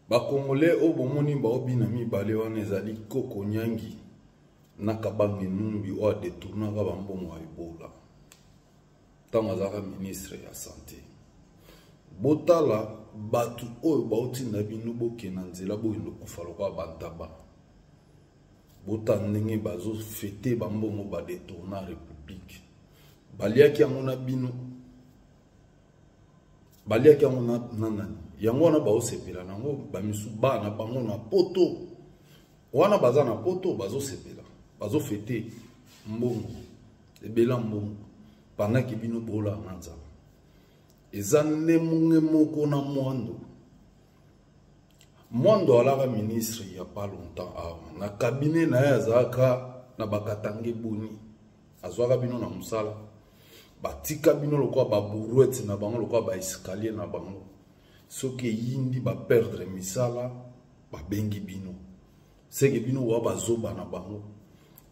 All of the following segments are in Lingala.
bakongole oyo bomoni baobina mibale wana ezali koko nyangi na kabange numbi oyo adetournaka bambongo ya ebola ntango azalaka ministre ya sante botala bato oyo bautinda bino bokenda nzela boye lokufa lokola bantaba bota ndenge bazofete bambongo badetourna république baliaki yango na bino baliaki yango na nani yango wana baosepela na yango bamisu bana bango na poto wana baza na poto bazosepela bazofete mbongo ebela mbongo bangaki bino bolanga nzambe eza ndemonge moko na mwando mwando alaka ministre ya pas longtemps awa na kabine na ye azalaka na bakatange boni azwaka bino na mosala batika bino lokola baburuete na bango lokola baescalier na bango soki eyindi baperdre misala babengi bino seke bino wa bazoba na bango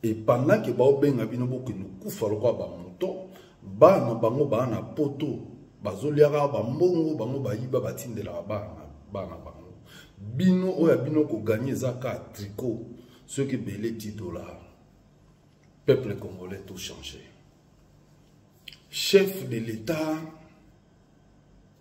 epandant ke baobenga bino bokende kufa lokola bamoto bana bango baa na poto bazoliaka bambongo bango bayiba batindelaka bana bana bango bino oyo ya bino koganye eza ka tricot soki ebele 10 dollar peuple congolais to change chef de l'état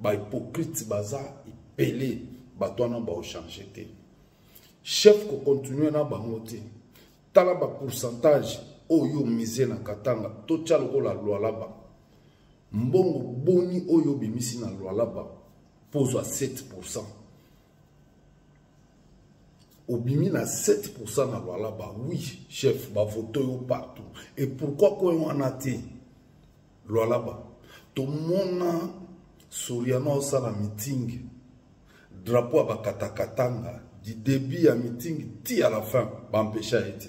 ba hypocrite baza ebele bato wana baochange te chef kocontinue na bango te tala bapourcentage oyo mise na katanga totya lokola lwalaba mbongo boni oyo obimisi na lwalaba mpo ozwa 7 pourcent obimi na 7 na lwalaba oui chef bavoto yo partout et pourquoi koyo wana te Lualaba, tomona Soriano osala meeting, drapeau ya bakatakatanga du début ya meeting ti à la fin, bampesha ye te.